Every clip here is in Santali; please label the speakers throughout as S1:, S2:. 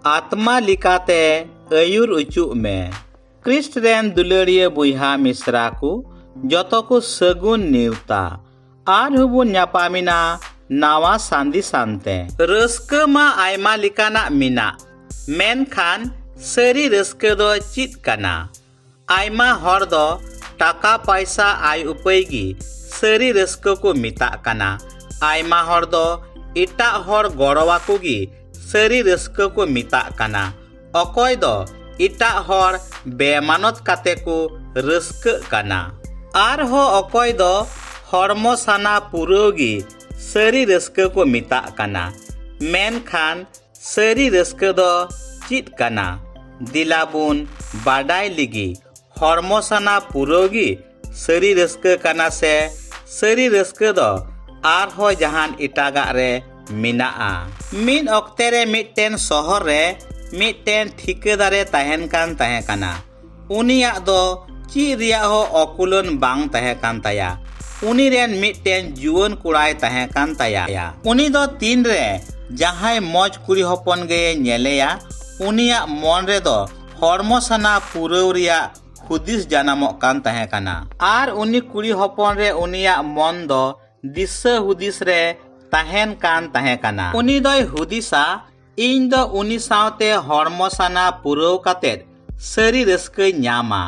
S1: ᱟᱛᱢᱟ ᱞᱮᱠᱟᱛᱮ ᱟᱹᱭᱩᱨ ᱚᱪᱚᱜ ᱢᱮ ᱠᱨᱤᱥᱴ ᱨᱮᱱ ᱫᱩᱞᱟᱹᱲᱤᱭᱟᱹ ᱵᱚᱭᱦᱟ ᱢᱤᱥᱨᱟ ᱠᱚ ᱡᱚᱛᱚ ᱠᱚ ᱥᱟᱹᱜᱩᱱ ᱱᱮᱣᱛᱟ ᱟᱨᱦᱚᱸ ᱵᱚᱱ ᱧᱟᱯᱟᱢᱮᱱᱟ ᱱᱟᱣᱟ ᱥᱟᱸᱫᱤ ᱥᱟᱱᱛᱮ ᱨᱟᱹᱥᱠᱟᱹ ᱢᱟ ᱟᱭᱢᱟ ᱞᱮᱠᱟᱱᱟᱜ ᱢᱮᱱᱟᱜ ᱢᱮᱱᱠᱷᱟᱱ ᱥᱟᱹᱨᱤ ᱨᱟᱹᱥᱠᱟᱹ ᱫᱚ ᱪᱮᱫ ᱠᱟᱱᱟ ᱟᱭᱢᱟ ᱦᱚᱲ ᱫᱚ ᱴᱟᱠᱟ ᱯᱟᱭᱥᱟ ᱟᱭ ᱩᱯᱟᱹᱭ ᱜᱮ ᱥᱟᱹᱨᱤ ᱨᱟᱹᱥᱠᱟᱹ ᱠᱚ ᱢᱮᱛᱟᱜ ᱠᱟᱱᱟ ᱟᱭᱢᱟ ᱦᱚᱲ ᱫᱚ ᱮᱴᱟᱜ ᱦᱚᱲ ᱜᱚᱲᱚ ᱟᱠᱚ ᱜᱮ ᱥᱟᱹᱨᱤ ᱨᱟᱹᱥᱠᱟᱹ ᱠᱚ ᱢᱮᱛᱟᱜ ᱠᱟᱱᱟ ᱚᱠᱚᱭ ᱫᱚ ᱮᱴᱟᱜ ᱦᱚᱲ ᱵᱮᱢᱟᱱᱚᱛ ᱠᱟᱛᱮ ᱠᱚ ᱨᱟᱹᱥᱠᱟᱹᱜ ᱠᱟᱱᱟ ᱟᱨᱦᱚᱸ ᱚᱠᱚᱭ ᱫᱚ ᱦᱚᱲᱢᱚ ᱥᱟᱱᱟ ᱯᱩᱨᱟᱹᱣ ᱜᱮ ᱥᱟᱹᱨᱤ ᱨᱟᱹᱥᱠᱟᱹ ᱠᱚ ᱢᱮᱛᱟᱜ ᱠᱟᱱᱟ ᱢᱮᱱᱠᱷᱟᱱ ᱥᱟᱹᱨᱤ ᱨᱟᱹᱥᱠᱟᱹ ᱫᱚ ᱪᱮᱫ ᱠᱟᱱᱟ ᱫᱤᱞᱟ ᱵᱚᱱ ᱵᱟᱰᱟᱭ ᱞᱤᱜᱤ ᱦᱚᱲᱢᱚ ᱥᱟᱱᱟ ᱯᱩᱨᱟᱹᱣ ᱜᱮ ᱥᱟᱹᱨᱤ ᱨᱟᱹᱥᱠᱟᱹ ᱠᱟᱱᱟ ᱥᱮ ᱥᱟᱹᱨᱤ ᱨᱟᱹᱥᱠᱟᱹ ᱫᱚ ᱟᱨᱦᱚᱸ ᱡᱟᱦᱟᱱ ᱮᱴᱟᱜᱟᱜ ᱨᱮ ᱢᱮᱱᱟᱜᱼᱟ ᱢᱤᱫ ᱚᱠᱛᱮ ᱨᱮ ᱢᱤᱫᱴᱮᱱ ᱥᱚᱦᱚᱨ ᱨᱮ ᱢᱤᱫᱴᱮᱱ ᱴᱷᱤᱠᱟᱹᱫᱟᱨᱮ ᱛᱟᱦᱮᱱ ᱠᱟᱱ ᱛᱟᱦᱮᱸ ᱠᱟᱱᱟ ᱩᱱᱤᱭᱟᱜ ᱫᱚ ᱪᱮᱫ ᱨᱮᱭᱟᱜ ᱦᱚᱸ ᱚᱠᱩᱞᱟᱹᱱ ᱵᱟᱝ ᱛᱟᱦᱮᱸ ᱠᱟᱱ ᱛᱟᱭᱟ ᱩᱱᱤ ᱨᱮᱱ ᱢᱤᱫᱴᱮᱱ ᱡᱩᱣᱟᱹᱱ ᱠᱚᱲᱟᱭ ᱛᱟᱦᱮᱸ ᱠᱟᱱ ᱛᱟᱭᱟ ᱩᱱᱤ ᱫᱚ ᱛᱤᱱ ᱨᱮ ᱡᱟᱦᱟᱸᱭ ᱢᱚᱡᱽ ᱠᱩᱲᱤ ᱦᱚᱯᱚᱱ ᱜᱮᱭᱮ ᱧᱮᱞᱮᱭᱟ ᱩᱱᱤᱭᱟᱜ ᱢᱚᱱ ᱨᱮ ᱫᱚ ᱦᱚᱲᱢᱚ ᱥᱟᱱᱟ ᱯᱩᱨᱟᱹᱣ ᱨᱮᱭᱟᱜ ᱦᱩᱫᱤᱥ ᱡᱟᱱᱟᱢᱚᱜ ᱠᱟᱱ ᱛᱟᱦᱮᱸ ᱠᱟᱱᱟ ᱟᱨ ᱩᱱᱤ ᱠᱩᱲᱤ ᱦᱚᱯᱚᱱ ᱨᱮ ᱩᱱᱤᱭᱟᱜ ᱢᱚᱱ ᱫᱚ ᱫᱤᱥᱟᱹ ᱦᱩᱫᱤᱥ ᱨᱮ ᱛᱟᱦᱮᱸᱱ ᱠᱟᱱ ᱛᱟᱦᱮᱸ ᱠᱟᱱᱟ ᱩᱱᱤ ᱫᱚᱭ ᱦᱩᱫᱤᱥᱟ ᱤᱧ ᱫᱚ ᱩᱱᱤ ᱥᱟᱶᱛᱮ ᱦᱚᱲᱢᱚ ᱥᱟᱱᱟ ᱯᱩᱨᱟᱹᱣ ᱠᱟᱛᱮ ᱥᱟᱹᱨᱤ ᱨᱟᱹᱥᱠᱟᱹᱧ ᱧᱟᱢᱟ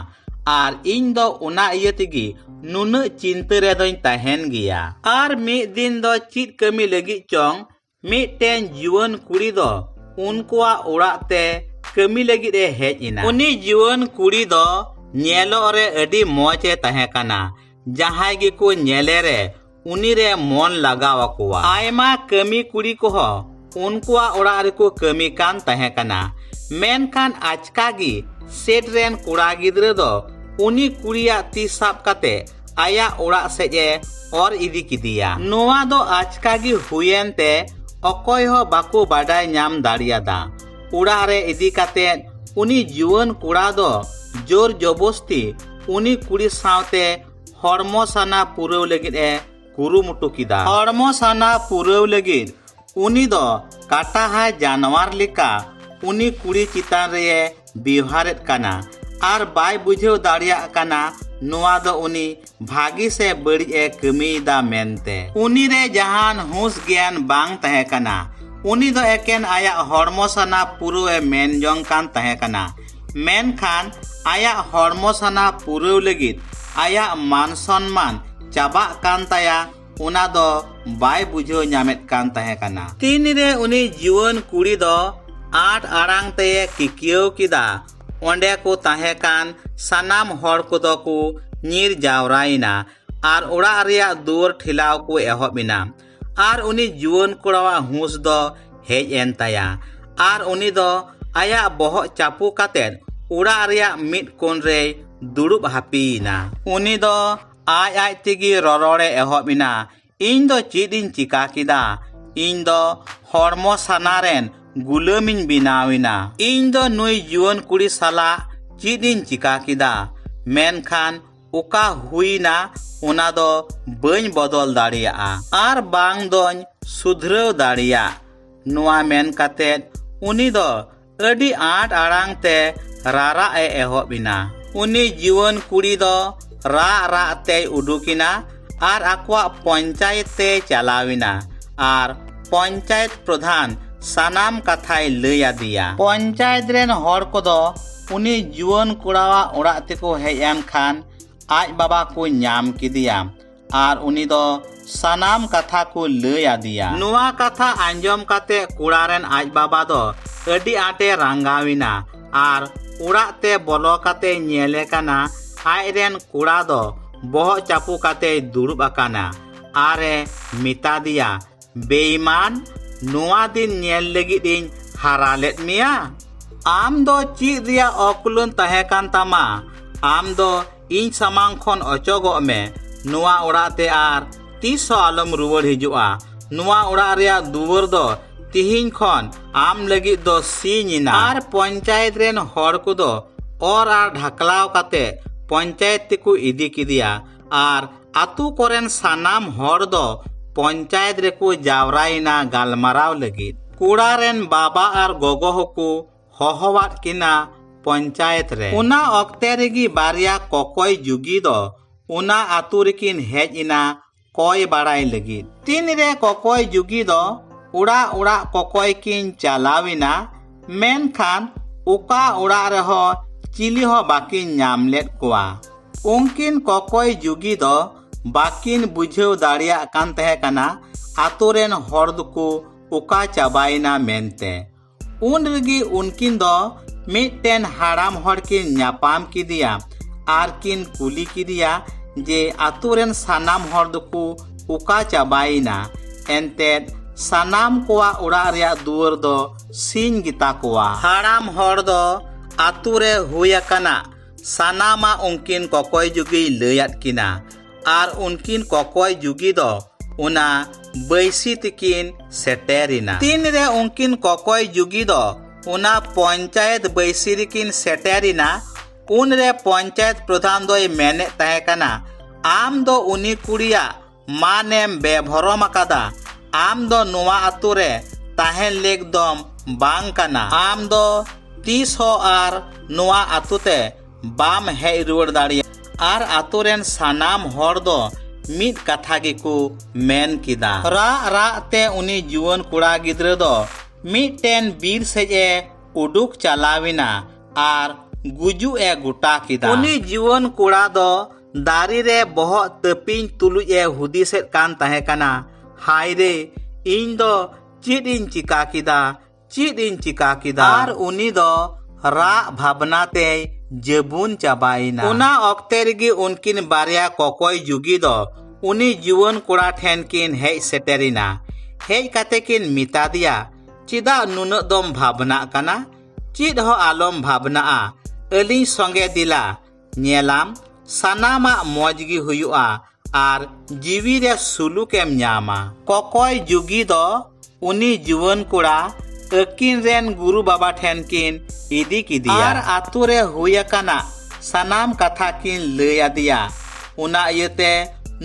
S1: ᱟᱨ ᱤᱧ ᱫᱚ ᱚᱱᱟ ᱤᱭᱟᱹ ᱛᱮᱜᱮ ᱱᱩᱱᱟᱹᱜ ᱪᱤᱱᱛᱟᱹ ᱨᱮᱫᱚᱧ ᱛᱟᱦᱮᱱ ᱜᱮᱭᱟ ᱟᱨ ᱢᱤᱫ ᱫᱤᱱ ᱫᱚ ᱪᱮᱫ ᱠᱟᱹᱢᱤ ᱞᱟᱹᱜᱤᱫ ᱪᱚᱝ ᱢᱤᱫᱴᱮᱱ ᱡᱩᱣᱟᱹᱱ ᱠᱩᱲᱤ ᱫᱚ ᱩᱱᱠᱩᱣᱟᱜ ᱚᱲᱟᱜ ᱛᱮ ᱠᱟᱹᱢᱤ ᱞᱟᱹᱜᱤᱫ ᱮ ᱦᱮᱡ ᱮᱱᱟ ᱩᱱᱤ ᱡᱩᱣᱟᱹᱱ ᱠᱩᱲᱤ ᱫᱚ ᱧᱮᱞᱚᱜ ᱨᱮ ᱟᱹᱰᱤ ᱢᱚᱡᱽ ᱮ ᱛᱟᱦᱮᱸ ᱠᱟᱱᱟ ᱡᱟᱦᱟᱸᱭ ᱜᱮᱠᱚ ᱧᱮᱞᱮ ᱨᱮ ᱩᱱᱤ ᱨᱮ ᱢᱚᱱ ᱞᱟᱜᱟᱣ ᱟᱠᱚᱣᱟ ᱟᱭᱢᱟ ᱠᱟᱹᱢᱤ ᱠᱩᱲᱤ ᱠᱚᱦᱚᱸ ᱩᱱᱠᱩᱣᱟᱜ ᱚᱲᱟᱜ ᱨᱮᱠᱚ ᱠᱟᱹᱢᱤ ᱠᱟᱱ ᱛᱟᱦᱮᱸ ᱠᱟᱱᱟ ᱢᱮᱱᱠᱷᱟᱱ ᱟᱪᱠᱟ ᱜᱮ ᱥᱮᱴ ᱨᱮᱱ ᱠᱚᱲᱟ ᱜᱤᱫᱽᱨᱟᱹ ᱫᱚ ᱩᱱᱤ ᱠᱩᱲᱤᱭᱟᱜ ᱛᱤ ᱥᱟᱵ ᱠᱟᱛᱮ ᱟᱭᱟᱜ ᱚᱲᱟᱜ ᱥᱮᱡ ᱮ ᱚᱨ ᱤᱫᱤ ᱠᱮᱫᱮᱭᱟ ᱱᱚᱣᱟ ᱫᱚ ᱟᱪᱠᱟ ᱜᱮ ᱦᱩᱭᱮᱱ ᱛᱮ ᱚᱠᱚᱭ ᱦᱚᱸ ᱵᱟᱠᱚ ᱵᱟᱰᱟᱭ ᱧᱟᱢ ᱫᱟᱲᱮᱭᱟᱫᱟ ᱚᱲᱟᱜ ᱨᱮ ᱤᱫᱤ ᱠᱟᱛᱮ ᱩᱱᱤ ᱡᱩᱣᱟᱹᱱ ᱠᱚᱲᱟ ᱫᱚ ᱡᱳᱨ ᱡᱚᱵᱚᱥᱛᱤ ᱩᱱᱤ ᱠᱩᱲᱤ ᱥᱟᱶᱛᱮ ᱦᱚᱲᱢᱚ ᱥᱟᱱᱟ ᱯᱩᱨᱟᱹᱣ ᱞᱟᱹᱜᱤᱫ ᱮ ᱠᱩᱨᱩᱢᱩᱴᱩ ᱠᱮᱫᱟ ᱦᱚᱲᱢᱚ ᱥᱟᱱᱟ ᱯᱩᱨᱟᱹᱣ ᱞᱟᱹᱜᱤᱫ ᱩᱱᱤ ᱫᱚ ᱠᱟᱴᱟᱦᱟᱭ ᱡᱟᱱᱣᱟᱨ ᱞᱮᱠᱟ ᱩᱱᱤ ᱠᱩᱲᱤ ᱪᱮᱛᱟᱱ ᱨᱮ ᱵᱮᱣᱦᱟᱨᱮᱫ ᱠᱟᱱᱟ ᱟᱨ ᱵᱟᱭ ᱵᱩᱡᱷᱟᱹᱣ ᱫᱟᱲᱮᱭᱟᱜ ᱠᱟᱱᱟ ᱱᱚᱣᱟ ᱫᱚ ᱩᱱᱤ ᱵᱷᱟᱹᱜᱤ ᱥᱮ ᱵᱟᱹᱲᱤᱡ ᱮ ᱠᱟᱹᱢᱤᱭᱮᱫᱟ ᱢᱮᱱᱛᱮ ᱩᱱᱤ ᱨᱮ ᱡᱟᱦᱟᱱ ᱦᱩᱸᱥ ᱜᱮᱭᱟᱱ ᱵᱟᱝ ᱛᱟᱦᱮᱸ ᱠᱟᱱᱟ ᱩᱱᱤ ᱫᱚ ᱮᱠᱮᱱ ᱟᱭᱟᱜ ᱦᱚᱲᱢᱚ ᱥᱟᱱᱟ ᱯᱩᱨᱟᱹᱣ ᱮ ᱢᱮᱱ ᱡᱚᱝ ᱠᱟᱱ ᱛᱟᱦᱮᱸ ᱠᱟᱱᱟ ᱢᱮᱱᱠᱷᱟᱱ ᱟᱭᱟᱜ ᱦᱚᱲᱢᱚ ᱥᱟᱱᱟ ᱯᱩᱨᱟᱹᱣ ᱞᱟᱹᱜᱤᱫ ᱟᱭᱟᱜ ᱢᱟᱱ ᱥᱚᱱᱢᱟᱱ ᱪᱟᱵᱟᱜ ᱠᱟᱱ ᱛᱟᱭᱟ ᱚᱱᱟ ᱫᱚ ᱵᱟᱭ ᱵᱩᱡᱷᱟᱹᱣ ᱧᱟᱢᱮᱫ ᱠᱟᱱ ᱛᱟᱦᱮᱸ ᱠᱟᱱᱟ ᱛᱤᱱᱨᱮ ᱩᱱᱤ ᱡᱩᱣᱟᱹᱱ ᱠᱩᱲᱤ ᱫᱚ ᱟᱴ ᱟᱲᱟᱝ ᱛᱮᱭᱮ ᱠᱤᱠᱤᱭᱟᱹᱣ ᱠᱮᱫᱟ ᱚᱸᱰᱮ ᱠᱚ ᱛᱟᱦᱮᱸ ᱠᱟᱱ ᱥᱟᱱᱟᱢ ᱦᱚᱲ ᱠᱚᱫᱚ ᱠᱚ ᱧᱤᱨ ᱡᱟᱣᱨᱟᱭᱮᱱᱟ ᱟᱨ ᱚᱲᱟᱜ ᱨᱮᱭᱟᱜ ᱫᱩᱣᱟᱹᱨ ᱴᱷᱮᱞᱟᱣ ᱠᱚ ᱮᱦᱚᱵ ᱮᱱᱟ ᱟᱨ ᱩᱱᱤ ᱡᱩᱣᱟᱹᱱ ᱠᱚᱲᱟᱣᱟᱜ ᱦᱩᱸᱥ ᱫᱚ ᱦᱮᱡ ᱮᱱ ᱛᱟᱭᱟ ᱟᱨ ᱩᱱᱤ ᱫᱚ ᱟᱭᱟᱜ ᱵᱚᱦᱚᱜ ᱪᱟᱯᱩ ᱠᱟᱛᱮ ᱚᱲᱟᱜ ᱨᱮᱭᱟᱜ ᱢᱤᱫ ᱠᱚᱱ ᱨᱮᱭ ᱫᱩᱲᱩᱵ ᱦᱟᱹᱯᱤᱭᱮᱱᱟ ᱩᱱᱤ ᱫᱚ ᱟᱡ ᱟᱡ ᱛᱮᱜᱮ ᱨᱚᱨᱚᱲᱮ ᱮᱦᱚᱵ ᱮᱱᱟ ᱤᱧ ᱫᱚ ᱪᱮᱫ ᱤᱧ ᱪᱤᱠᱟ ᱠᱮᱫᱟ ᱤᱧ ᱫᱚ ᱦᱚᱲᱢᱚ ᱥᱟᱱᱟ ᱨᱮᱱ ᱜᱩᱞᱟᱹᱢᱤᱧ ᱵᱮᱱᱟᱣᱮᱱᱟ ᱤᱧ ᱫᱚ ᱱᱩᱭ ᱡᱩᱣᱟᱹᱱ ᱠᱩᱲᱤ ᱥᱟᱞᱟᱜ ᱪᱮᱫ ᱤᱧ ᱪᱤᱠᱟ ᱠᱮᱫᱟ ᱢᱮᱱᱠᱷᱟᱱ ᱚᱠᱟ ᱦᱩᱭᱱᱟ ᱚᱱᱟ ᱫᱚ ᱵᱟᱹᱧ ᱵᱚᱫᱚᱞ ᱫᱟᱲᱮᱭᱟᱜᱼᱟ ᱟᱨ ᱵᱟᱝ ᱫᱚᱧ ᱥᱩᱫᱷᱨᱟᱹᱣ ᱫᱟᱲᱮᱭᱟᱜ ᱱᱚᱣᱟ ᱢᱮᱱ ᱠᱟᱛᱮᱫ ᱩᱱᱤ ᱫᱚ ᱟᱹᱰᱤ ᱟᱸᱴ ᱟᱲᱟᱝ ᱛᱮ ᱨᱟᱨᱟᱜ ᱮ ᱮᱦᱚᱵ ᱮᱱᱟ ᱩᱱᱤ ᱡᱩᱣᱟᱹᱱ ᱠᱩᱲᱤ ᱫᱚ ᱨᱟᱜ ᱨᱟᱜ ᱛᱮᱭ ᱩᱰᱩᱠᱮᱱᱟ ᱟᱨ ᱟᱠᱚᱣᱟᱜ ᱯᱚᱧᱪᱟᱭᱮᱛ ᱛᱮ ᱪᱟᱞᱟᱣᱮᱱᱟ ᱟᱨ ᱯᱚᱧᱪᱟᱭᱮᱛ ᱯᱨᱚᱫᱷᱟᱱ ᱥᱟᱱᱟᱢ ᱠᱟᱛᱷᱟᱭ ᱞᱟᱹᱭ ᱟᱫᱮᱭᱟ ᱯᱚᱧᱪᱟᱭᱮᱛ ᱨᱮᱱ ᱦᱚᱲ ᱠᱚᱫᱚ ᱩᱱᱤ ᱡᱩᱣᱟᱹᱱ ᱠᱚᱲᱟᱣᱟᱜ ᱚᱲᱟᱜ ᱛᱮᱠᱚ ᱦᱮᱡ ᱮᱱ ᱠᱷᱟᱱ ᱟᱡ ᱵᱟᱵᱟ ᱠᱚ ᱧᱟᱢ ᱠᱮᱫᱮᱭᱟ ᱟᱨ ᱩᱱᱤ ᱫᱚ ᱥᱟᱱᱟᱢ ᱠᱟᱛᱷᱟ ᱠᱚ ᱞᱟᱹᱭ ᱟᱫᱮᱭᱟ ᱱᱚᱣᱟ ᱠᱟᱛᱷᱟ ᱟᱸᱡᱚᱢ ᱠᱟᱛᱮ ᱠᱚᱲᱟ ᱨᱮᱱ ᱟᱡ ᱵᱟᱵᱟ ᱫᱚ ᱟᱹᱰᱤ ᱟᱸᱴᱮ ᱨᱟᱸᱜᱟᱣᱮᱱᱟ ᱟᱨ ᱚᱲᱟᱜ ᱛᱮ ᱵᱚᱞᱚ ᱠᱟᱛᱮ ᱧᱮᱞᱮ ᱠᱟᱱᱟ ᱟᱡ ᱨᱮᱱ ᱠᱚᱲᱟ ᱫᱚ ᱵᱚᱦᱚᱜ ᱪᱟᱯᱚ ᱠᱟᱛᱮᱭ ᱫᱩᱲᱩᱵ ᱟᱠᱟᱱᱟ ᱟᱨᱮ ᱢᱮᱛᱟ ᱫᱮᱭᱟ ᱵᱮᱭᱢᱟᱱ ᱱᱚᱣᱟ ᱫᱤᱱ ᱧᱮᱞ ᱞᱟᱹᱜᱤᱫ ᱤᱧ ᱦᱟᱨᱟ ᱞᱮᱫ ᱢᱮᱭᱟ ᱟᱢ ᱫᱚ ᱪᱮᱫ ᱨᱮᱭᱟᱜ ᱚᱠᱩᱞᱟᱹᱱ ᱛᱟᱦᱮᱸ ᱠᱟᱱ ᱛᱟᱢᱟ ᱟᱢ ᱫᱚ ᱤᱧ ᱥᱟᱢᱟᱝ ᱠᱷᱚᱱ ᱚᱪᱚᱜᱚᱜ ᱢᱮ ᱱᱚᱣᱟ ᱚᱲᱟᱜ ᱛᱮ ᱟᱨ ᱛᱤᱥ ᱦᱚᱸ ᱟᱞᱚᱢ ᱨᱩᱣᱟᱹᱲ ᱦᱤᱡᱩᱜᱼᱟ ᱱᱚᱣᱟ ᱚᱲᱟᱜ ᱨᱮᱭᱟᱜ ᱫᱩᱣᱟᱹᱨ ᱫᱚ ᱛᱤᱦᱤᱧ ᱠᱷᱚᱱ ᱟᱢ ᱞᱟᱹᱜᱤᱫ ᱫᱚ ᱥᱤᱧ ᱮᱱᱟ ᱟᱨ ᱯᱚᱧᱪᱟᱭᱮᱛ ᱨᱮᱱ ᱦᱚᱲ ᱠᱚᱫᱚ ᱚᱨ ᱟᱨ ᱰᱷᱟᱠᱞᱟᱣ ᱠᱟᱛᱮ ᱯᱚᱧᱪᱟᱭᱮᱛ ᱛᱮᱠᱚ ᱤᱫᱤ ᱠᱮᱫᱮᱭᱟ ᱟᱨ ᱟᱛᱳ ᱠᱚᱨᱮᱱ ᱥᱟᱱᱟᱢ ᱦᱚᱲ ᱫᱚ ᱯᱚᱧᱪᱟᱭᱮᱛ ᱨᱮᱠᱚ ᱡᱟᱣᱨᱟᱭᱮᱱᱟ ᱜᱟᱞᱢᱟᱨᱟᱣ ᱞᱟᱹᱜᱤᱫ ᱠᱚᱲᱟ ᱨᱮᱱ ᱵᱟᱵᱟ ᱟᱨ ᱜᱚᱜᱚ ᱦᱚᱸᱠᱚ ᱦᱚᱦᱚᱣᱟᱫ ᱠᱤᱱᱟ ᱯᱚᱧᱪᱟᱭᱮᱛ ᱨᱮ ᱚᱱᱟ ᱚᱠᱛᱮ ᱨᱮᱜᱮ ᱵᱟᱨᱭᱟ ᱠᱚᱠᱚᱭ ᱡᱩᱜᱤ ᱫᱚ ᱚᱱᱟ ᱟᱛᱳ ᱨᱮᱠᱤᱱ ᱦᱮᱡ ᱮᱱᱟ ᱠᱚᱭ ᱵᱟᱲᱟᱭ ᱞᱟᱹᱜᱤᱫ ᱛᱤᱱ ᱨᱮ ᱠᱚᱠᱚᱭ ᱡᱩᱜᱤ ᱫᱚ ᱚᱲᱟᱜ ᱚᱲᱟᱜ ᱠᱚᱠᱚᱭ ᱠᱤᱱ ᱪᱟᱞᱟᱣᱮᱱᱟ ᱢᱮᱱᱠᱷᱟᱱ ᱚᱠᱟ ᱚᱲᱟᱜ ᱨᱮᱦᱚᱸ ᱪᱤᱞᱤ ᱦᱚᱸ ᱵᱟᱠᱤᱱ ᱧᱟᱢ ᱞᱮᱫ ᱠᱚᱣᱟ ᱩᱱᱠᱤᱱ ᱠᱚᱠᱚᱭ ᱡᱩᱜᱤ ᱫᱚ ᱵᱟᱠᱤᱱ ᱵᱩᱡᱷᱟᱹᱣ ᱫᱟᱲᱮᱭᱟᱜ ᱠᱟᱱ ᱛᱟᱦᱮᱸ ᱠᱟᱱᱟ ᱟᱛᱳ ᱨᱮᱱ ᱦᱚᱲ ᱫᱚᱠᱚ ᱚᱠᱟ ᱪᱟᱵᱟᱭᱮᱱᱟ ᱢᱮᱱᱛᱮ ᱩᱱ ᱨᱮᱜᱮ ᱩᱱᱠᱤᱱ ᱫᱚ ᱢᱤᱫᱴᱮᱱ ᱦᱟᱲᱟᱢ ᱦᱚᱲ ᱠᱤᱱ ᱧᱟᱯᱟᱢ ᱠᱮᱫᱮᱭᱟ ᱟᱨ ᱠᱤᱱ ᱠᱩᱞᱤ ᱠᱮᱫᱮᱭᱟ ᱡᱮ ᱟᱛᱳ ᱨᱮᱱ ᱥᱟᱱᱟᱢ ᱦᱚᱲ ᱫᱚᱠᱚ ᱚᱠᱟ ᱪᱟᱵᱟᱭᱮᱱᱟ ᱮᱱᱛᱮᱫ ᱥᱟᱱᱟᱢ ᱠᱚᱣᱟᱜ ᱚᱲᱟᱜ ᱨᱮᱭᱟᱜ ᱫᱩᱣᱟᱹᱨ ᱫᱚ ᱥᱤᱧ ᱜᱮᱛᱟ ᱠᱚᱣᱟ ᱦᱟᱲᱟᱢ ᱦᱚᱲ ᱫᱚ ᱟᱛᱳ ᱨᱮ ᱦᱩᱭ ᱟᱠᱟᱱᱟ ᱥᱟᱱᱟᱢᱟ ᱩᱱᱠᱤᱱ ᱠᱚᱠᱚᱭ ᱡᱩᱜᱤᱭ ᱞᱟᱹᱭᱟᱫ ᱠᱤᱱᱟ ᱟᱨ ᱩᱱᱠᱤᱱ ᱠᱚᱠᱚᱭ ᱡᱩᱜᱤ ᱫᱚ ᱚᱱᱟ ᱵᱟᱹᱭᱥᱤ ᱛᱤᱠᱤᱱ ᱥᱮᱴᱮᱨᱤᱱᱟ ᱛᱤᱱ ᱨᱮ ᱩᱱᱠᱤᱱ ᱠᱚᱠᱚᱭ ᱡᱩᱜᱤ ᱫᱚ ᱚᱱᱟ ᱯᱚᱧᱪᱟᱭᱮᱛ ᱵᱟᱹᱭᱥᱤ ᱨᱮᱠᱤᱱ ᱥᱮᱴᱮᱨᱤᱱᱟ ᱩᱱ ᱨᱮ ᱯᱚᱧᱪᱟᱭᱮᱛ ᱯᱨᱚᱫᱷᱟᱱ ᱫᱚᱭ ᱢᱮᱱᱮᱫ ᱛᱟᱦᱮᱸ ᱠᱟᱱᱟ ᱟᱢ ᱫᱚ ᱩᱱᱤ ᱠᱩᱲᱤᱭᱟᱜ ᱢᱟᱱᱮᱢ ᱵᱮᱵᱷᱚᱨᱚᱢ ᱟᱠᱟᱫᱟ ᱟᱢ ᱫᱚ ᱱᱚᱣᱟ ᱟᱛᱳ ᱨᱮ ᱛᱟᱦᱮᱱ ᱞᱮᱠ ᱫᱚᱢ ᱵᱟᱝ ᱠᱟᱱᱟ ᱟᱢ ᱫᱚ ᱛᱤᱥ ᱦᱚᱸ ᱟᱨ ᱱᱚᱣᱟ ᱟᱛᱳ ᱛᱮ ᱵᱟᱢ ᱦᱮᱡ ᱨᱩᱣᱟᱹᱲ ᱫᱟᱲᱮᱭᱟᱜᱼᱟ ᱟᱨ ᱟᱛᱳ ᱨᱮᱱ ᱥᱟᱱᱟᱢ ᱦᱚᱲ ᱫᱚ ᱢᱤᱫ ᱠᱟᱛᱷᱟ ᱜᱮᱠᱚ ᱢᱮᱱ ᱠᱮᱫᱟ ᱨᱟᱜ ᱨᱟᱜ ᱛᱮ ᱩᱱᱤ ᱡᱩᱣᱟᱹᱱ ᱠᱚᱲᱟ ᱜᱤᱫᱽᱨᱟᱹ ᱫᱚ ᱢᱤᱫᱴᱮᱱ ᱵᱤᱨ ᱥᱮᱡ ᱮ ᱩᱰᱩᱠ ᱪᱟᱞᱟᱣᱮᱱᱟ ᱟᱨ ᱜᱩᱡᱩᱜ ᱮ ᱜᱚᱴᱟ ᱠᱮᱫᱟ ᱩᱱᱤ ᱡᱩᱣᱟᱹᱱ ᱠᱚᱲᱟ ᱫᱚ ᱫᱟᱨᱮ ᱨᱮ ᱵᱚᱦᱚᱜ ᱛᱟᱹᱯᱤᱧ ᱛᱩᱞᱩᱡ ᱮ ᱦᱩᱫᱤᱥᱮᱫ ᱠᱟᱱ ᱛᱟᱦᱮᱸ ᱠᱟᱱᱟ ᱦᱟᱭ ᱨᱮ ᱤᱧ ᱫᱚ ᱪᱮᱫ ᱤᱧ ᱪᱤᱠᱟ ᱠᱮᱫᱟ ᱪᱮᱫ ᱤᱧ ᱪᱤᱠᱟ ᱠᱮᱫᱟ ᱟᱨ ᱩᱱᱤ ᱫᱚ ᱨᱟᱜ ᱵᱷᱟᱵᱽᱱᱟ ᱛᱮᱭ ᱡᱟᱹᱵᱩᱱ ᱪᱟᱵᱟᱭᱮᱱᱟ ᱚᱱᱟ ᱚᱠᱛᱮ ᱨᱮᱜᱮ ᱩᱱᱠᱤᱱ ᱵᱟᱨᱭᱟ ᱠᱚᱠᱚᱭ ᱡᱩᱜᱤ ᱫᱚ ᱩᱱᱤ ᱡᱩᱣᱟᱹᱱ ᱠᱚᱲᱟ ᱴᱷᱮᱱ ᱠᱤᱱ ᱦᱮᱡ ᱥᱮᱴᱮᱨᱮᱱᱟ ᱦᱮᱡ ᱠᱟᱛᱮ ᱠᱤᱱ ᱢᱮᱛᱟ ᱫᱮᱭᱟ ᱪᱮᱫᱟᱜ ᱱᱩᱱᱟᱹᱜ ᱫᱚᱢ ᱵᱷᱟᱵᱽᱱᱟᱜ ᱠᱟᱱᱟ ᱪᱮᱫ ᱦᱚᱸ ᱟᱞᱚᱢ ᱵᱷᱟᱵᱽᱱᱟᱜᱼᱟ ᱟᱹᱞᱤᱧ ᱥᱚᱸᱜᱮ ᱫᱮᱞᱟ ᱧᱮᱞᱟᱢ ᱥᱟᱱᱟᱢᱟᱜ ᱢᱚᱡᱽ ᱜᱮ ᱦᱩᱭᱩᱜᱼᱟ ᱟᱨ ᱡᱤᱣᱤ ᱨᱮ ᱥᱩᱞᱩᱠᱮᱢ ᱧᱟᱢᱟ ᱠᱚᱠᱚᱭ ᱡᱩᱜᱤ ᱫᱚ ᱩᱱᱤ ᱡᱩᱣᱟᱹᱱ ᱠᱚᱲᱟ ᱟᱹᱠᱤᱱ ᱨᱮᱱ ᱜᱩᱨᱩ ᱵᱟᱵᱟ ᱴᱷᱮᱱ ᱠᱤᱱ ᱤᱫᱤ ᱠᱮᱫᱮᱭᱟ ᱟᱨ ᱟᱛᱳ ᱨᱮ ᱦᱩᱭ ᱟᱠᱟᱱᱟ ᱥᱟᱱᱟᱢ ᱠᱟᱛᱷᱟ ᱠᱤᱱ ᱞᱟᱹᱭ ᱟᱫᱮᱭᱟ ᱚᱱᱟ ᱤᱭᱟᱹᱛᱮ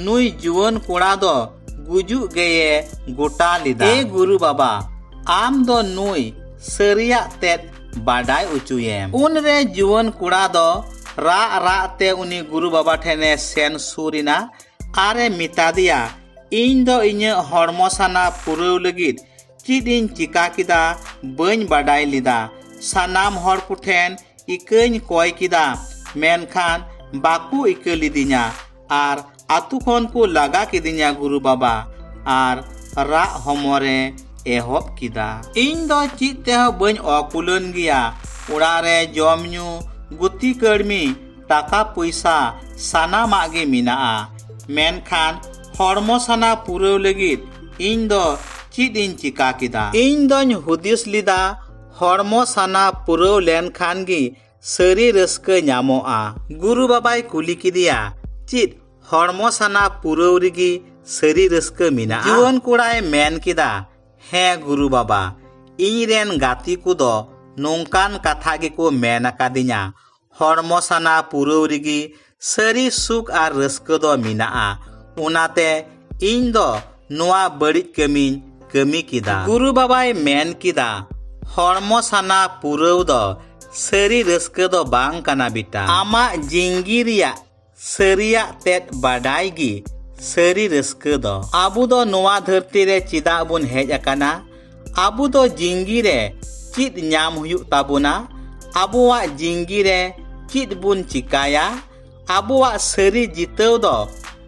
S1: ᱱᱩᱭ ᱡᱩᱣᱟᱹᱱ ᱠᱚᱲᱟ ᱫᱚ ᱜᱩᱡᱩᱜ ᱜᱮᱭᱮ ᱜᱚᱴᱟ ᱞᱮᱫᱟ ᱮ ᱜᱩᱨᱩ ᱵᱟᱵᱟ ᱟᱢ ᱫᱚ ᱱᱩᱭ ᱥᱟᱹᱨᱤᱭᱟᱜ ᱛᱮᱫ ᱵᱟᱰᱟᱭ ᱚᱪᱚᱭᱮᱢ ᱩᱱᱨᱮ ᱡᱩᱣᱟᱹᱱ ᱠᱚᱲᱟ ᱫᱚ ᱨᱟᱜ ᱨᱟᱜ ᱛᱮ ᱩᱱᱤ ᱜᱩᱨᱩ ᱵᱟᱵᱟ ᱴᱷᱮᱱᱮ ᱥᱮᱱ ᱥᱩᱨ ᱮᱱᱟ ᱟᱨᱮ ᱢᱮᱛᱟᱫᱮᱭᱟ ᱤᱧ ᱫᱚ ᱤᱧᱟᱹᱜ ᱦᱚᱲᱢᱚ ᱥᱟᱱᱟ ᱯᱩᱨᱟᱹᱣ ᱞᱟᱹᱜᱤᱫ ᱪᱮᱫ ᱤᱧ ᱪᱤᱠᱟ ᱠᱮᱫᱟ ᱵᱟᱹᱧ ᱵᱟᱰᱟᱭ ᱞᱮᱫᱟ ᱥᱟᱱᱟᱢ ᱦᱚᱲ ᱠᱚᱴᱷᱮᱱ ᱤᱠᱟᱹᱧ ᱠᱚᱭ ᱠᱮᱫᱟ ᱢᱮᱱᱠᱷᱟᱱ ᱵᱟᱠᱚ ᱤᱠᱟᱹ ᱞᱤᱫᱤᱧᱟ ᱟᱨ ᱟᱛᱩ ᱠᱷᱚᱱ ᱠᱚ ᱞᱟᱜᱟ ᱠᱤᱫᱤᱧᱟ ᱜᱩᱨᱩ ᱵᱟᱵᱟ ᱟᱨ ᱨᱟᱜ ᱦᱚᱢᱚᱨᱮ ᱮᱦᱚᱵ ᱠᱮᱫᱟ ᱤᱧ ᱫᱚ ᱪᱮᱫ ᱛᱮᱦᱚᱸ ᱵᱟᱹᱧ ᱚᱠᱩᱞᱟᱹᱱ ᱜᱮᱭᱟ ᱚᱲᱟᱜ ᱨᱮ ᱡᱚᱢ ᱧᱩ ᱜᱩᱛᱤ ᱠᱟᱹᱲᱢᱤ ᱴᱟᱠᱟ ᱯᱚᱭᱥᱟ ᱥᱟᱱᱟᱢᱟᱜ ᱜᱮ ᱢᱮᱱᱟᱜᱼᱟ ᱢᱮᱱᱠᱷᱟᱱ ᱦᱚᱲᱢᱚ ᱥᱟᱱᱟ ᱯᱩᱨᱟᱹᱣ ᱞᱟᱹᱜᱤᱫ ᱤᱧ ᱫᱚ ᱪᱮᱫ ᱤᱧ ᱪᱤᱠᱟ ᱠᱮᱫᱟ ᱤᱧ ᱫᱚᱧ ᱦᱩᱫᱤᱥ ᱞᱮᱫᱟ ᱦᱚᱲᱢᱚ ᱥᱟᱱᱟ ᱯᱩᱨᱟᱹᱣ ᱞᱮᱱᱠᱷᱟᱱ ᱜᱮ ᱥᱟᱹᱨᱤ ᱨᱟᱹᱥᱠᱟᱹ ᱧᱟᱢᱚᱜᱼᱟ ᱜᱩᱨᱩ ᱵᱟᱵᱟᱭ ᱠᱩᱞᱤ ᱠᱮᱫᱮᱭᱟ ᱪᱮᱫ ᱦᱚᱲᱢᱚ ᱥᱟᱱᱟ ᱯᱩᱨᱟᱹᱣ ᱨᱮᱜᱮ ᱥᱟᱹᱨᱤ ᱨᱟᱹᱥᱠᱟᱹ ᱢᱮᱱᱟᱜᱼᱟ ᱡᱩᱣᱟᱹᱱ ᱠᱚᱲᱟᱭ ᱢᱮᱱ ᱠᱮᱫᱟ ᱦᱮᱸ ᱜᱩᱨᱩ ᱵᱟᱵᱟ ᱤᱧ ᱨᱮᱱ ᱜᱟᱛᱮ ᱠᱚᱫᱚ ᱱᱚᱝᱠᱟᱱ ᱠᱟᱛᱷᱟ ᱜᱮᱠᱚ ᱢᱮᱱ ᱟᱠᱟᱫᱤᱧᱟ ᱦᱚᱲᱢᱚ ᱥᱟᱱᱟ ᱯᱩᱨᱟᱹᱣ ᱨᱮᱜᱮ ᱥᱟᱹᱨᱤ ᱥᱩᱠ ᱟᱨ ᱨᱟᱹᱥᱠᱟᱹ ᱫᱚ ᱢᱮᱱᱟᱜᱼᱟ ᱚᱱᱟᱛᱮ ᱤᱧ ᱫᱚ ᱱᱚᱣᱟ ᱵᱟᱹᱲᱤᱡ ᱠᱟᱹᱢᱤᱧ ᱠᱟᱹᱢᱤ ᱠᱮᱫᱟ ᱜᱩᱨᱩ ᱵᱟᱵᱟᱭ ᱢᱮᱱ ᱠᱮᱫᱟ ᱦᱚᱲᱢᱚ ᱥᱟᱱᱟ ᱯᱩᱨᱟᱹᱣ ᱫᱚ ᱥᱟᱹᱨᱤ ᱨᱟᱹᱥᱠᱟᱹ ᱫᱚ ᱵᱟᱝ ᱠᱟᱱᱟ ᱵᱤᱴᱟ ᱟᱢᱟᱜ ᱡᱤᱝᱜᱤ ᱨᱮᱭᱟᱜ ᱥᱟᱹᱨᱤᱭᱟᱜ ᱛᱮᱫ ᱵᱟᱰᱟᱭ ᱜᱮ ᱥᱟᱹᱨᱤ ᱨᱟᱹᱥᱠᱟᱹ ᱫᱚ ᱟᱵᱚ ᱫᱚ ᱱᱚᱣᱟ ᱫᱷᱟᱹᱨᱛᱤ ᱨᱮ ᱪᱮᱫᱟᱜ ᱵᱚᱱ ᱦᱮᱡ ᱟᱠᱟᱱᱟ ᱟᱵᱚ ᱫᱚ ᱡᱤᱝᱜᱤ ᱨᱮ ᱪᱮᱫ ᱧᱟᱢ ᱦᱩᱭᱩᱜ ᱛᱟᱵᱚᱱᱟ ᱟᱵᱚᱣᱟᱜ ᱡᱤᱝᱜᱤ ᱨᱮ ᱪᱮᱫ ᱵᱚᱱ ᱪᱤᱠᱟᱭᱟ ᱟᱵᱚᱣᱟᱜ ᱥᱟᱹᱨᱤ ᱡᱤᱛᱟᱹᱣ ᱫᱚ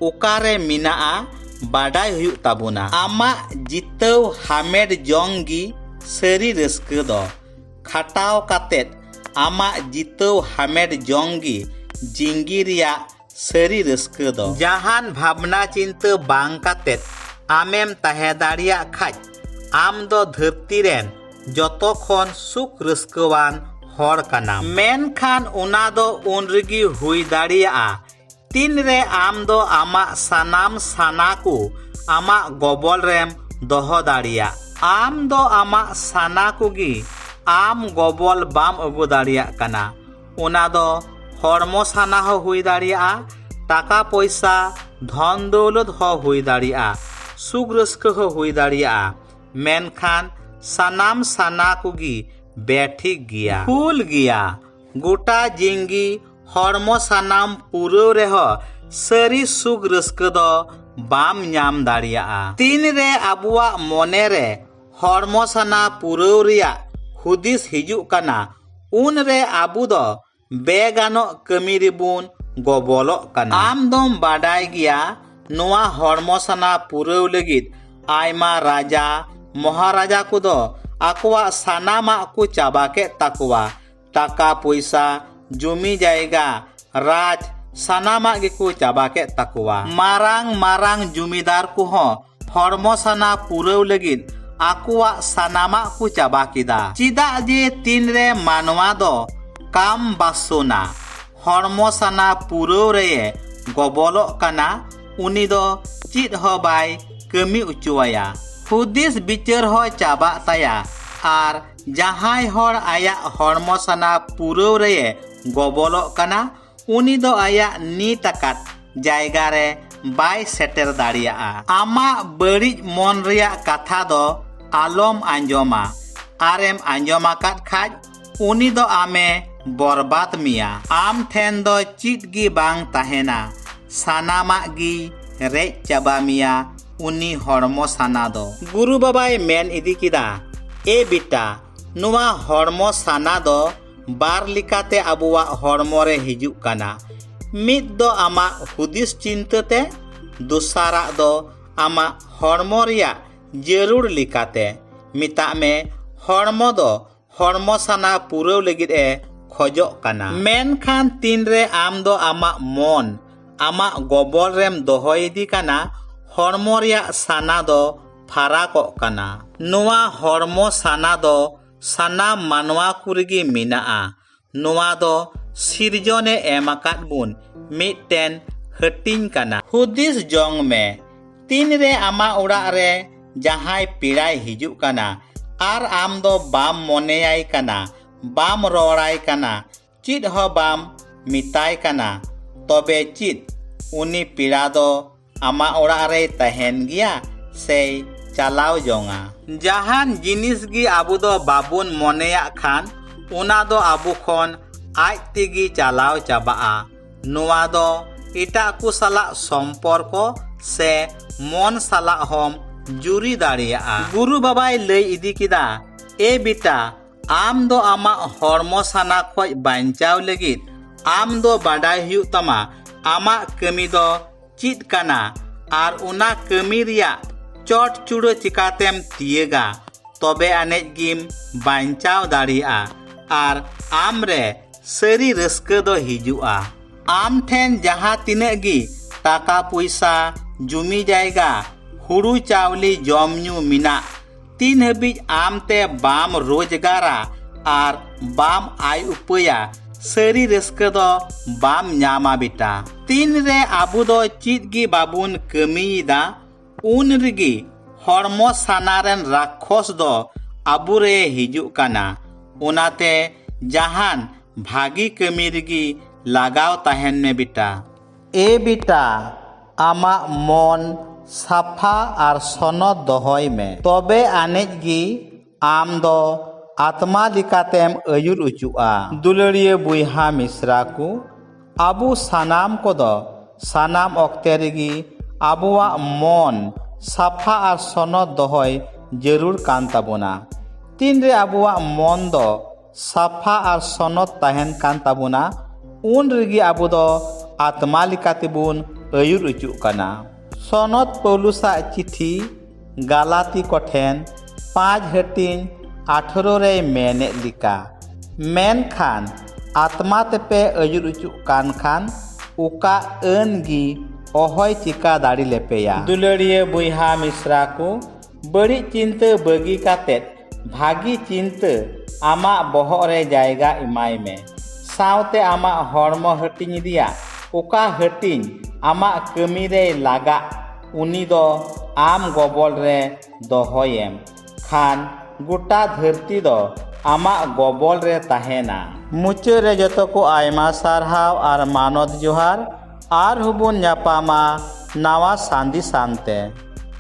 S1: ᱚᱠᱟᱨᱮ ᱢᱮᱱᱟᱜᱼᱟ ᱵᱟᱰᱟᱭ ᱦᱩᱭᱩᱜ ᱛᱟᱵᱚᱱᱟ ᱟᱢᱟᱜ ᱡᱤᱛᱟᱹᱣ ᱦᱟᱢᱮᱴ ᱡᱚᱝ ᱜᱮ ᱥᱟᱹᱨᱤ ᱨᱟᱹᱥᱠᱟᱹ ᱫᱚ ᱠᱷᱟᱴᱟᱣ ᱠᱟᱛᱮᱫ ᱟᱢᱟᱜ ᱡᱤᱛᱟᱹᱣ ᱦᱟᱢᱮᱴ ᱡᱚᱝ ᱜᱮ ᱡᱤᱝᱜᱤ ᱨᱮᱭᱟᱜ ᱥᱟᱹᱨᱤ ᱨᱟᱹᱥᱠᱟᱹ ᱫᱚ ᱡᱟᱦᱟᱱ ᱵᱷᱟᱵᱽᱱᱟ ᱪᱤᱱᱛᱟᱹ ᱵᱟᱝ ᱠᱟᱛᱮ ᱟᱢᱮᱢ ᱛᱟᱦᱮᱸ ᱫᱟᱲᱮᱭᱟᱜ ᱠᱷᱟᱡ ᱟᱢ ᱫᱚ ᱫᱷᱟᱹᱨᱛᱤ ᱨᱮᱱ ᱡᱚᱛᱚ ᱠᱷᱚᱱ ᱥᱩᱠ ᱨᱟᱹᱥᱠᱟᱹᱣᱟᱱ ᱦᱚᱲ ᱠᱟᱱᱟᱢ ᱢᱮᱱᱠᱷᱟᱱ ᱚᱱᱟ ᱫᱚ ᱩᱱ ᱨᱮᱜᱮ ᱦᱩᱭ ᱫᱟᱲᱮᱭᱟᱜᱼᱟ ᱛᱤᱱ ᱨᱮ ᱟᱢ ᱫᱚ ᱟᱢᱟᱜ ᱥᱟᱱᱟᱢ ᱥᱟᱱᱟ ᱠᱚ ᱟᱢᱟᱜ ᱜᱚᱵᱚᱞ ᱨᱮᱢ ᱫᱚᱦᱚ ᱫᱟᱲᱮᱭᱟᱜ ᱟᱢ ᱫᱚ ᱟᱢᱟᱜ ᱥᱟᱱᱟ ᱠᱚᱜᱮ ᱟᱢ ᱜᱚᱵᱚᱞ ᱵᱟᱢ ᱟᱹᱜᱩ ᱫᱟᱲᱮᱭᱟᱜ ᱠᱟᱱᱟ ᱚᱱᱟ ᱫᱚ ᱦᱚᱲᱢᱚ ᱥᱟᱱᱟ ᱦᱚᱸ ᱦᱩᱭ ᱫᱟᱲᱮᱭᱟᱜᱼᱟ ᱴᱟᱠᱟ ᱯᱚᱭᱥᱟ ᱫᱷᱚᱱ ᱫᱚᱣᱞᱚᱛ ᱦᱚᱸ ᱦᱩᱭ ᱫᱟᱲᱮᱭᱟᱜᱼᱟ ᱥᱩᱠ ᱨᱟᱹᱥᱠᱟᱹ ᱦᱚᱸ ᱦᱩᱭ ᱫᱟᱲᱮᱭᱟᱜᱼᱟ ᱢᱮᱱᱠᱷᱟᱱ ᱥᱟᱱᱟᱢ ᱥᱟᱱᱟ ᱠᱚᱜᱮ ᱵᱮᱴᱷᱤᱠ ᱜᱮᱭᱟ ᱵᱷᱩᱞ ᱜᱮᱭᱟ ᱜᱚᱴᱟ ᱡᱤᱝᱜᱤ ᱦᱚᱲᱢᱚ ᱥᱟᱱᱟᱢ ᱯᱩᱨᱟᱹᱣ ᱨᱮᱦᱚᱸ ᱥᱟᱹᱨᱤ ᱥᱩᱠ ᱨᱟᱹᱥᱠᱟᱹ ᱫᱚ ᱵᱟᱢ ᱧᱟᱢ ᱫᱟᱲᱮᱭᱟᱜᱼᱟ ᱛᱤᱱᱨᱮ ᱟᱵᱚᱣᱟᱜ ᱢᱚᱱᱮᱨᱮ ᱦᱚᱲᱢᱚ ᱥᱟᱱᱟ ᱯᱩᱨᱟᱹᱣ ᱨᱮᱭᱟᱜ ᱦᱩᱫᱤᱥ ᱦᱤᱡᱩᱜ ᱠᱟᱱᱟ ᱩᱱ ᱨᱮ ᱟᱵᱚ ᱫᱚ ᱵᱮᱜᱟᱱᱚᱜ ᱠᱟᱹᱢᱤ ᱨᱮᱵᱚᱱ ᱜᱚᱵᱚᱞᱚᱜ ᱠᱟᱱᱟ ᱟᱢ ᱫᱚᱢ ᱵᱟᱰᱟᱭ ᱜᱮᱭᱟ ᱱᱚᱣᱟ ᱦᱚᱲᱢᱚ ᱥᱟᱱᱟ ᱯᱩᱨᱟᱹᱣ ᱞᱟᱹᱜᱤᱫ ᱟᱭᱢᱟ ᱨᱟᱡᱟ ᱢᱚᱦᱟᱨᱟᱡᱟ ᱠᱚᱫᱚ ᱟᱠᱚᱣᱟᱜ ᱥᱟᱱᱟᱢᱟᱜ ᱠᱚ ᱪᱟᱵᱟ ᱠᱮᱫ ᱛᱟᱠᱚᱣᱟ ᱴᱟᱠᱟ ᱯᱚᱭᱥᱟ ᱡᱚᱢᱤ ᱡᱟᱭᱜᱟ ᱨᱟᱡᱽ ᱥᱟᱱᱟᱢᱟᱜ ᱜᱮᱠᱚ ᱪᱟᱵᱟ ᱠᱮᱫ ᱛᱟᱠᱚᱣᱟ ᱢᱟᱨᱟᱝ ᱢᱟᱨᱟᱝ ᱡᱚᱢᱤᱫᱟᱨ ᱠᱚᱦᱚᱸ ᱦᱚᱲᱢᱚ ᱥᱟᱱᱟ ᱯᱩᱨᱟᱹᱣ ᱞᱟᱹᱜᱤᱫ ᱟᱠᱚᱣᱟᱜ ᱥᱟᱱᱟᱢᱟᱜ ᱠᱚ ᱪᱟᱵᱟ ᱠᱮᱫᱟ ᱪᱮᱫᱟᱜ ᱡᱮ ᱛᱤᱱᱨᱮ ᱢᱟᱱᱣᱟ ᱫᱚ ᱠᱟᱢ ᱵᱟᱥᱚᱱᱟ ᱦᱚᱲᱢᱚ ᱥᱟᱱᱟ ᱯᱩᱨᱟᱹᱣ ᱨᱮᱭᱮ ᱜᱚᱵᱚᱞᱚᱜ ᱠᱟᱱᱟ ᱩᱱᱤ ᱫᱚ ᱪᱮᱫ ᱦᱚᱸ ᱵᱟᱭ ᱠᱟᱹᱢᱤ ᱚᱪᱚᱣᱟᱭᱟ ᱦᱩᱫᱤᱥ ᱵᱤᱪᱟᱹᱨ ᱦᱚᱸ ᱪᱟᱵᱟᱜ ᱛᱟᱭᱟ ᱟᱨ ᱡᱟᱦᱟᱸᱭ ᱦᱚᱲ ᱟᱭᱟᱜ ᱦᱚᱲᱢᱚ ᱥᱟᱱᱟ ᱯᱩᱨᱟᱹᱣ ᱨᱮᱭᱮ ᱜᱚᱵᱚᱞᱚᱜ ᱠᱟᱱᱟ ᱩᱱᱤ ᱫᱚ ᱟᱭᱟᱜ ᱱᱤᱛ ᱟᱠᱟᱫ ᱡᱟᱭᱜᱟ ᱨᱮ ᱵᱟᱭ ᱥᱮᱴᱮᱨ ᱫᱟᱲᱮᱭᱟᱜᱼᱟ ᱟᱢᱟᱜ ᱵᱟᱹᱲᱤᱡ ᱢᱚᱱ ᱨᱮᱭᱟᱜ ᱠᱟᱛᱷᱟ ᱫᱚ ᱟᱞᱚᱢ ᱟᱸᱡᱚᱢᱟ ᱟᱨᱮᱢ ᱟᱸᱡᱚᱢ ᱟᱠᱟᱫ ᱠᱷᱟᱡ ᱩᱱᱤ ᱫᱚ ᱟᱢᱮ ᱵᱚᱨᱵᱟᱫ ᱢᱮᱭᱟ ᱟᱢ ᱴᱷᱮᱱ ᱫᱚ ᱪᱮᱫ ᱜᱮ ᱵᱟᱝ ᱛᱟᱦᱮᱱᱟ ᱥᱟᱱᱟᱢᱟᱜ ᱜᱮ ᱨᱮᱡ ᱪᱟᱵᱟ ᱢᱮᱭᱟ ᱩᱱᱤ ᱦᱚᱲᱢᱚ ᱥᱟᱱᱟ ᱫᱚ ᱜᱩᱨᱩ ᱵᱟᱵᱟᱭ ᱢᱮᱱ ᱤᱫᱤ ᱠᱮᱫᱟ ᱮ ᱵᱤᱴᱟ ᱱᱚᱣᱟ ᱦᱚᱲᱢᱚ ᱥᱟᱱᱟ ᱫᱚ ᱵᱟᱨ ᱞᱮᱠᱟᱛᱮ ᱟᱵᱚᱣᱟᱜ ᱦᱚᱲᱢᱚ ᱨᱮ ᱦᱤᱡᱩᱜ ᱠᱟᱱᱟ ᱢᱤᱫ ᱫᱚ ᱟᱢᱟᱜ ᱦᱩᱫᱤᱥ ᱪᱤᱱᱛᱟᱹ ᱛᱮ ᱫᱚᱥᱟᱨᱟᱜ ᱫᱚ ᱟᱢᱟᱜ ᱦᱚᱲᱢᱚ ᱨᱮᱭᱟᱜ ᱡᱟᱹᱨᱩᱲ ᱞᱮᱠᱟᱛᱮ ᱢᱮᱛᱟᱜ ᱢᱮ ᱦᱚᱲᱢᱚ ᱫᱚ ᱦᱚᱲᱢᱚ ᱥᱟᱱᱟ ᱯᱩᱨᱟᱹᱣ ᱞᱟᱹᱜᱤᱫ ᱮ ᱠᱷᱚᱡᱚᱜ ᱠᱟᱱᱟ ᱢᱮᱱᱠᱷᱟᱱ ᱛᱤᱱᱨᱮ ᱟᱢ ᱫᱚ ᱟᱢᱟᱜ ᱢᱚᱱ ᱟᱢᱟᱜ ᱜᱚᱵᱚᱞ ᱨᱮᱢ ᱫᱚᱦᱚᱭ ᱤᱫᱤ ᱠᱟᱱᱟ ᱦᱚᱲᱢᱚ ᱨᱮᱭᱟᱜ ᱥᱟᱱᱟ ᱫᱚ ᱯᱷᱟᱨᱟᱠᱚᱜ ᱠᱟᱱᱟ ᱱᱚᱣᱟ ᱦᱚᱲᱢᱚ ᱥᱟᱱᱟ ᱫᱚ ᱥᱟᱱᱟᱢ ᱢᱟᱱᱣᱟ ᱠᱚ ᱨᱮᱜᱮ ᱢᱮᱱᱟᱜᱼᱟ ᱱᱚᱣᱟ ᱫᱚ ᱥᱤᱨᱡᱚᱱ ᱮ ᱮᱢ ᱟᱠᱟᱫ ᱵᱚᱱ ᱢᱤᱫᱴᱮᱱ ᱦᱟᱹᱴᱤᱧ ᱠᱟᱱᱟ ᱦᱩᱫᱤᱥ ᱡᱚᱝ ᱢᱮ ᱛᱤᱱ ᱨᱮ ᱟᱢᱟᱜ ᱚᱲᱟᱜ ᱨᱮ ᱡᱟᱦᱟᱸᱭ ᱯᱮᱲᱟᱭ ᱦᱤᱡᱩᱜ ᱠᱟᱱᱟ ᱟᱨ ᱟᱢ ᱫᱚ ᱵᱟᱢ ᱢᱚᱱᱮᱭᱟᱭ ᱠᱟᱱᱟ ᱵᱟᱢ ᱨᱚᱲᱟᱭ ᱠᱟᱱᱟ ᱪᱮᱫ ᱦᱚᱸ ᱵᱟᱢ ᱢᱮᱛᱟᱭ ᱠᱟᱱᱟ ᱛᱚᱵᱮ ᱪᱮᱫ ᱩᱱᱤ ᱯᱮᱲᱟ ᱫᱚ ᱟᱢᱟᱜ ᱚᱲᱟᱜ ᱨᱮᱭ ᱛᱟᱦᱮᱱ ᱜᱮᱭᱟ ᱥᱮᱭ ᱪᱟᱞᱟᱣ ᱡᱚᱝᱟ ᱡᱟᱦᱟᱱ ᱡᱤᱱᱤᱥ ᱜᱮ ᱟᱵᱚ ᱫᱚ ᱵᱟᱵᱚᱱ ᱢᱚᱱᱮᱭᱟᱜ ᱠᱷᱟᱱ ᱚᱱᱟ ᱫᱚ ᱟᱵᱚ ᱠᱷᱚᱱ ᱟᱡ ᱛᱮᱜᱮ ᱪᱟᱞᱟᱣ ᱪᱟᱵᱟᱜᱼᱟ ᱱᱚᱣᱟ ᱫᱚ ᱮᱴᱟᱜ ᱠᱚ ᱥᱟᱞᱟᱜ ᱥᱚᱢᱯᱚᱨᱠᱚ ᱥᱮ ᱢᱚᱱ ᱥᱟᱞᱟᱜ ᱦᱚᱢ ᱡᱩᱨᱤ ᱫᱟᱲᱮᱭᱟᱜᱼᱟ ᱜᱩᱨᱩ ᱵᱟᱵᱟᱭ ᱞᱟᱹᱭ ᱤᱫᱤ ᱠᱮᱫᱟ ᱮ ᱵᱤᱴᱟ ᱟᱢ ᱫᱚ ᱟᱢᱟᱜ ᱦᱚᱲᱢᱚ ᱥᱟᱱᱟ ᱠᱷᱚᱡ ᱵᱟᱧᱪᱟᱣ ᱞᱟᱹᱜᱤᱫ ᱟᱢ ᱫᱚ ᱵᱟᱰᱟᱭ ᱦᱩᱭᱩᱜ ᱛᱟᱢᱟ ᱟᱢᱟᱜ ᱠᱟᱹᱢᱤ ᱫᱚ ᱪᱮᱫ ᱠᱟᱱᱟ ᱟᱨ ᱚᱱᱟ ᱠᱟᱹᱢᱤ ᱨᱮᱭᱟᱜ ᱪᱚᱴ ᱪᱩᱲᱟᱹ ᱪᱤᱠᱟᱛᱮᱢ ᱛᱤᱭᱟᱹᱜᱟ ᱛᱚᱵᱮ ᱟᱱᱮᱡ ᱜᱮᱢ ᱵᱟᱧᱪᱟᱣ ᱫᱟᱲᱮᱭᱟᱜᱼᱟ ᱟᱨ ᱟᱢ ᱨᱮ ᱥᱟᱹᱨᱤ ᱨᱟᱹᱥᱠᱟᱹ ᱫᱚ ᱦᱤᱡᱩᱜᱼᱟ ᱟᱢ ᱴᱷᱮᱱ ᱡᱟᱦᱟᱸ ᱛᱤᱱᱟᱹᱜ ᱜᱮ ᱴᱟᱠᱟ ᱯᱚᱭᱥᱟ ᱡᱩᱢᱤ ᱡᱟᱭᱜᱟ ᱦᱩᱲᱩ ᱪᱟᱣᱞᱮ ᱡᱚᱢ ᱧᱩ ᱢᱮᱱᱟᱜ ᱛᱤᱱ ᱦᱟᱹᱵᱤᱡ ᱟᱢ ᱛᱮ ᱵᱟᱢ ᱨᱳᱡᱽᱜᱟᱨᱟ ᱟᱨ ᱵᱟᱢ ᱟᱭ ᱩᱯᱟᱹᱭᱟ ᱥᱟᱹᱨᱤ ᱨᱟᱹᱥᱠᱟᱹ ᱫᱚ ᱵᱟᱢ ᱧᱟᱢᱟ ᱵᱮᱴᱟ ᱛᱤᱱ ᱨᱮ ᱟᱵᱚ ᱫᱚ ᱪᱮᱫ ᱜᱮ ᱵᱟᱵᱚᱱ ᱠᱟᱹᱢᱤᱭᱮᱫᱟ ᱩᱱ ᱨᱮᱜᱮ ᱦᱚᱲᱢᱚ ᱥᱟᱱᱟ ᱨᱮᱱ ᱨᱟᱠᱷᱚᱥ ᱫᱚ ᱟᱵᱚ ᱨᱮ ᱦᱤᱡᱩᱜ ᱠᱟᱱᱟ ᱚᱱᱟᱛᱮ ᱡᱟᱦᱟᱱ ᱵᱷᱟᱹᱜᱤ ᱠᱟᱹᱢᱤ ᱨᱮᱜᱮ ᱞᱟᱜᱟᱣ ᱛᱟᱦᱮᱱ ᱢᱮ ᱵᱮᱴᱟ ᱮ ᱵᱤᱴᱟ ᱟᱢᱟᱜ ᱢᱚᱱ ᱥᱟᱯᱷᱟ ᱟᱨ ᱥᱚᱱᱚᱛ ᱫᱚᱦᱚᱭ ᱢᱮ ᱛᱚᱵᱮ ᱟᱹᱱᱤᱡ ᱜᱮ ᱟᱢ ᱫᱚ ᱟᱛᱢᱟ ᱞᱮᱠᱟᱛᱮᱢ ᱟᱹᱭᱩᱨ ᱚᱪᱚᱜᱼᱟ ᱫᱩᱞᱟᱹᱲᱤᱭᱟᱹ ᱵᱚᱭᱦᱟ ᱢᱤᱥᱨᱟ ᱠᱚ ᱟᱵᱚ ᱥᱟᱱᱟᱢ ᱠᱚᱫᱚ ᱥᱟᱱᱟᱢ ᱚᱠᱛᱮ ᱨᱮᱜᱮ ᱟᱵᱚᱣᱟᱜ ᱢᱚᱱ ᱥᱟᱯᱷᱟ ᱟᱨ ᱥᱚᱱᱚᱛ ᱫᱚᱦᱚᱭ ᱡᱟᱹᱨᱩᱲ ᱠᱟᱱ ᱛᱟᱵᱚᱱᱟ ᱛᱤᱱᱨᱮ ᱟᱵᱚᱣᱟᱜ ᱢᱚᱱ ᱫᱚ ᱥᱟᱯᱷᱟ ᱟᱨ ᱥᱚᱱᱚᱛ ᱛᱟᱦᱮᱱ ᱠᱟᱱ ᱛᱟᱵᱚᱱᱟ ᱩᱱ ᱨᱮᱜᱮ ᱟᱵᱚ ᱫᱚ ᱟᱛᱢᱟ ᱞᱮᱠᱟ ᱛᱮᱵᱚᱱ ᱟᱹᱭᱩᱨ ᱚᱪᱚᱜ ᱠᱟᱱᱟ ᱥᱚᱱᱚᱛ ᱯᱳᱣᱞᱩᱥᱟᱜ ᱪᱤᱴᱷᱤ ᱜᱟᱞᱟᱛᱤ ᱠᱚᱴᱷᱮᱱ ᱯᱟᱸᱪ ᱦᱟᱹᱴᱤᱧ ᱟᱴᱷᱨᱚ ᱨᱮᱭ ᱢᱮᱱᱮᱫ ᱞᱮᱠᱟ ᱢᱮᱱᱠᱷᱟᱱ ᱟᱛᱢᱟ ᱛᱮᱯᱮ ᱟᱹᱭᱩᱨ ᱚᱪᱚᱜ ᱠᱟᱱ ᱠᱷᱟᱱ ᱚᱠᱟ ᱟᱹᱱ ᱜᱮ ᱚᱦᱚᱭ ᱪᱤᱠᱟᱹ ᱫᱟᱲᱮ ᱞᱮᱯᱮᱭᱟ ᱫᱩᱞᱟᱹᱲᱤᱭᱟᱹ ᱵᱚᱭᱦᱟ ᱢᱤᱥᱨᱟ ᱠᱚ ᱵᱟᱹᱲᱤᱡ ᱪᱤᱱᱛᱟᱹ ᱵᱟᱹᱜᱤ ᱠᱟᱛᱮ ᱵᱷᱟᱹᱜᱤ ᱪᱤᱱᱛᱟᱹ ᱟᱢᱟᱜ ᱵᱚᱦᱚᱜ ᱨᱮ ᱡᱟᱭᱜᱟ ᱮᱢᱟᱭ ᱢᱮ ᱥᱟᱶᱛᱮ ᱟᱢᱟᱜ ᱦᱚᱲᱢᱚ ᱦᱟᱹᱴᱤᱧ ᱨᱮᱭᱟᱜ ᱚᱠᱟ ᱦᱟᱹᱴᱤᱧ ᱟᱢᱟᱜ ᱠᱟᱹᱢᱤ ᱨᱮᱭ ᱞᱟᱜᱟᱜ ᱩᱱᱤ ᱫᱚ ᱟᱢ ᱜᱚᱵᱚᱞ ᱨᱮ ᱫᱚᱦᱚᱭᱮᱢ ᱠᱷᱟᱱ ᱜᱚᱴᱟ ᱫᱷᱟᱹᱨᱛᱤ ᱫᱚ ᱟᱢᱟᱜ ᱜᱚᱵᱚᱞ ᱨᱮ ᱛᱟᱦᱮᱱᱟ ᱢᱩᱪᱟᱹᱫ ᱨᱮ ᱡᱚᱛᱚ ᱠᱚ ᱟᱭᱢᱟ ᱥᱟᱨᱦᱟᱣ ᱟᱨ ᱢᱟᱱᱚᱛ ᱡᱚᱦᱟᱨ ᱟᱨᱦᱚᱸ ᱵᱚᱱ ᱧᱟᱯᱟᱢᱟ ᱱᱟᱣᱟ ᱥᱟᱸᱫᱮᱥᱟᱱ ᱛᱮ